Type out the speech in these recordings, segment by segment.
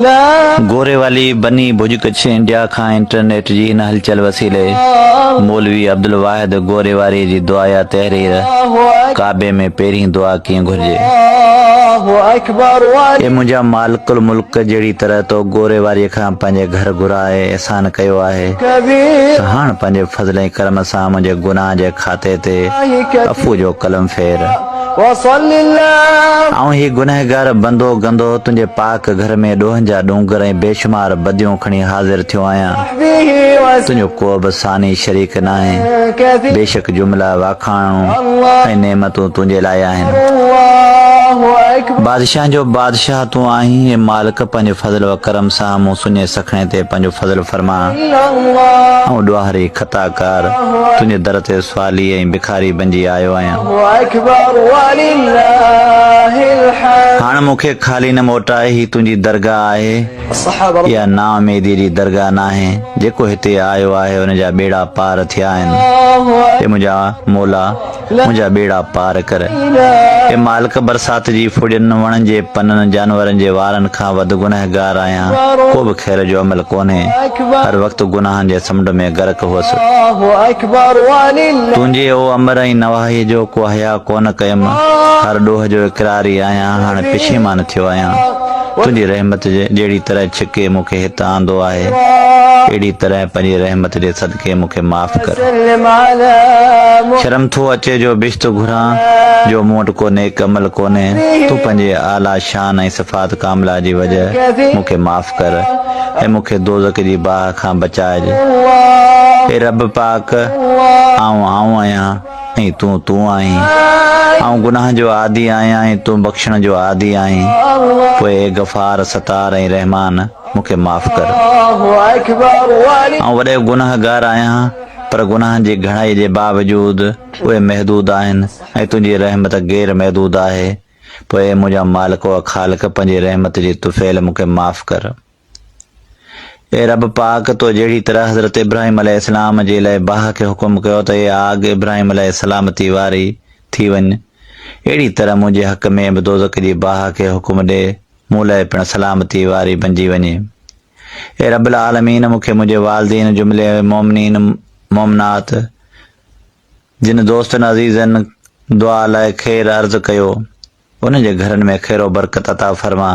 گوري والي بني ڀڄ ڪڇ انڊيا کان انٽرنيٽ جي هن هلچل وسيلي مولوي عبدالواحد گوري واري جي دعا يا تحرير ڪعبي ۾ پهرين دعا ڪيئن گهرجي اي منهنجا مالڪ الملڪ جهڙي طرح تو گوري واري کان پنهنجي گهر گهرا ۽ احسان ڪيو آهي ته هاڻ پنهنجي فضل ۽ ڪرم سان منهنجي گناهن جي کاتي تي عفو جو قلم ڦير. وصل الله. آئون هي گنهگار بندو گندو تنهنجي پاڪ گهر ۾ ڏوهن جا ڏونگر ۽ بيشمار بديون کڻي حاضر ٿيو آهيان. تنهنجو ڪوبه ثاني شريڪ ناهي. بيشڪ جمله واکاڻون ۽ نعمتون تنهنجي لاء آهن. بادشاهن جو بادشاهه تون آهين، اي مالڪ پنهنجي فضل و ڪرم سان مون سڃي سکڻي تي پنهنجو فضل فرمان. آئون ڏوهاري، خطاڪار، تنهنجي در تي سوالي ۽ ٿاري بنجي آيو آهيان. هاڻ مون کي خالي نه موٽاء هي تنهنجي درگاهه آهي. اها نااميديء جي درگاهه ناهي. جيڪو هتي آيو آهي ان جا ٻيڙا پار ٿيا آهن. اي منهنجا مولا! منهنجا ٻيڙا پار ڪر. اي مالڪ برسات جي ڦڙين، وڻن جي پنن، جانورن جي وارن کان کان وڌ گنهگار آهيان، ڪو به خير جو عمل ڪونهي، هر وقت گناهن جي سمنڊ ۾ غرق هئس. تنهنجي او امر ۽ نواحيء جو ڪو حياء ڪونه ڪيم، هر ڏوهه جو اقرار ئي آهيان، هاڻي پشيمان ٿيو آهيان. تنهنجي رحمت جهڙي طرح ڇڪي مون کي هت آندو آهي، اهڙي طرح پنهنجي رحمت جي صدقي مون کي معاف ڪر. شرم ٿو اچي جو بيشت گهران، جو مون وٽ ڪو نيڪ عمل ڪونهي، تون پنهنجي اعليٰ. شان ۽ صفات ڪامله جي وجه مون کي معاف ڪر ۽ مون کي دوزخ جي باهه کان بچائج. اي رب پاڪ! آئون آئون آهيان ۽ تون تون آهين. آئون گناهن جو عادي آهيان ۽ تون بخشڻ جو عادي آهين. پوء اي غفار، ستار ۽ رحمان! مون کي معاف ڪر. آئون وڏيو گناهگار آهيان پر گناهن جي گهڻائي جي باوجود اهي محدود آهن ۽ تنهنجي رحمت غير محدود آهي. پوء اي منهنجا مالڪ و خالق پنهنجي رحمت جي طفيل مون کي معاف ڪر. اي رب پاڪ تو جهڙي طرح حضرت ابراهيم عليه السلام جي لئه باهه کي حڪم ڪيو ته اي آگ ابراهيم عليه السلامتي واري ٿي وڃ اهڙي طرح منهنجي حق ۾ به دوزخ جي باهه کي حڪم ڏي مون لئه پڻ سلامتي واري بنجي وڃي. اي رب العالمين مون کي منهنجي والدين جملي مؤمنين مؤمنات جن دوستن عزيزن دعا لاء خير عرض ڪيو، انهن جي گهرن ۾ خير و برڪت عطا فرما،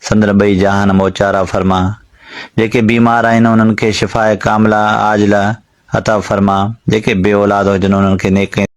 سندن ٻئي جهان موچارا فرما، جيڪي بيمار آهن انهن کي شفاء ڪامله عاجله عطا فرما، جيڪي بي اولاد هجن انهن کي نيڪين.